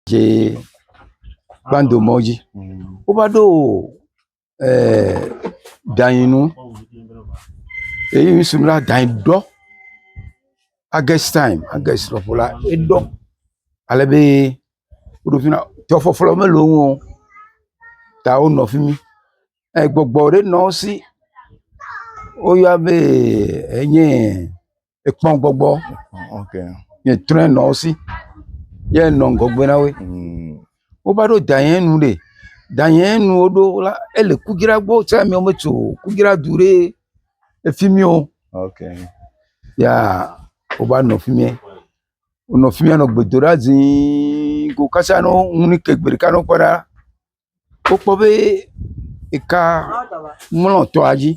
dze kpando mɔ dzi. Wova ɖo e danyi nu eyi ŋsu la danyi ɖɔ. Agɛst tayimu, agɛst lɔƒo la eɖɔ ale be woɖo ƒi na tɔ ƒɔƒlɔ mele wo ŋu o ta wonɔ fi mi. Egbɔgbɔ ɖe nɔ wo si woyɔa be enye. ekpɔ gbɔgbɔ nye trɔ nɔ wo si ye nɔ ŋgɔgbe na wo mm. wo va ɖo da yɛ nu ɖe da yɛ nu wo ɖo la ele kugira gbɔ tse mi wo tso kugira du ɖe efi mi o ya wo va nɔ fi mi wonɔ fi mi nɔ gbedoɖa zii ko kasa nɔ ŋu ni ke gbe ɖeka nɔ kpɔ ɖa. wokpɔ be eka mlɔ tɔa dzi.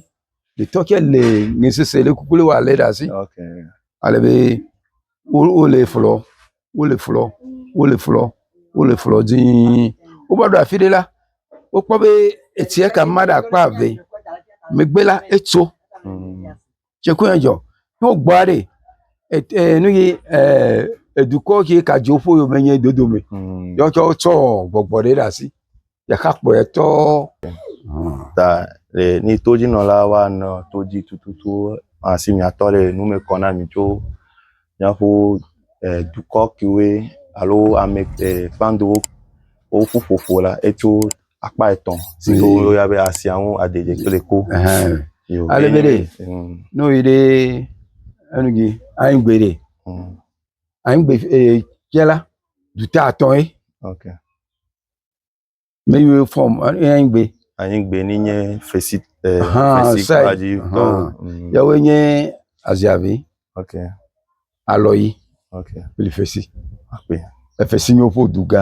Etɔ tsɛ le nɛ sese ɖe kuku wɔ le ɖe asi. Ale be wo wole flɔ wole flɔ wole flɔ wole flɔ dii. Wova ɖo afi ɖe la, wokpɔ be etsia kama ɖe akpa eve. Megbe la etso. tse koe edzɔ ne wogbɔ aɖɛ e nuyi edukɔ ke ka dzo ƒe yome nye dodo me ye wotsɔ tsɔ gbɔgbɔ ɖe ɖe asi ɖeka kpɔe tɔ. Ta le ni todzinɔla wa nɔ todzi tututu asi miatɔ le nu me kɔ na mi tso miaƒo dukɔ kewoe alo ame e kpandowo woƒu ƒoƒo la etso. akpa etɔ̃ si ke woyɔna be asia ŋu aɖiɖi kple ku. Ale be ɖe ne woyi ɖe enu dzi anyigbe ɖe anyigbe tse la dute atɔ̃ ye. Me yi wo fɔm anyigbe. Anyigbe ni nye fesi eh, fesi kpa dzi. Yawoe nye aziavi. Okay. alɔyi kple fesre kple efesre nye woƒe dugã.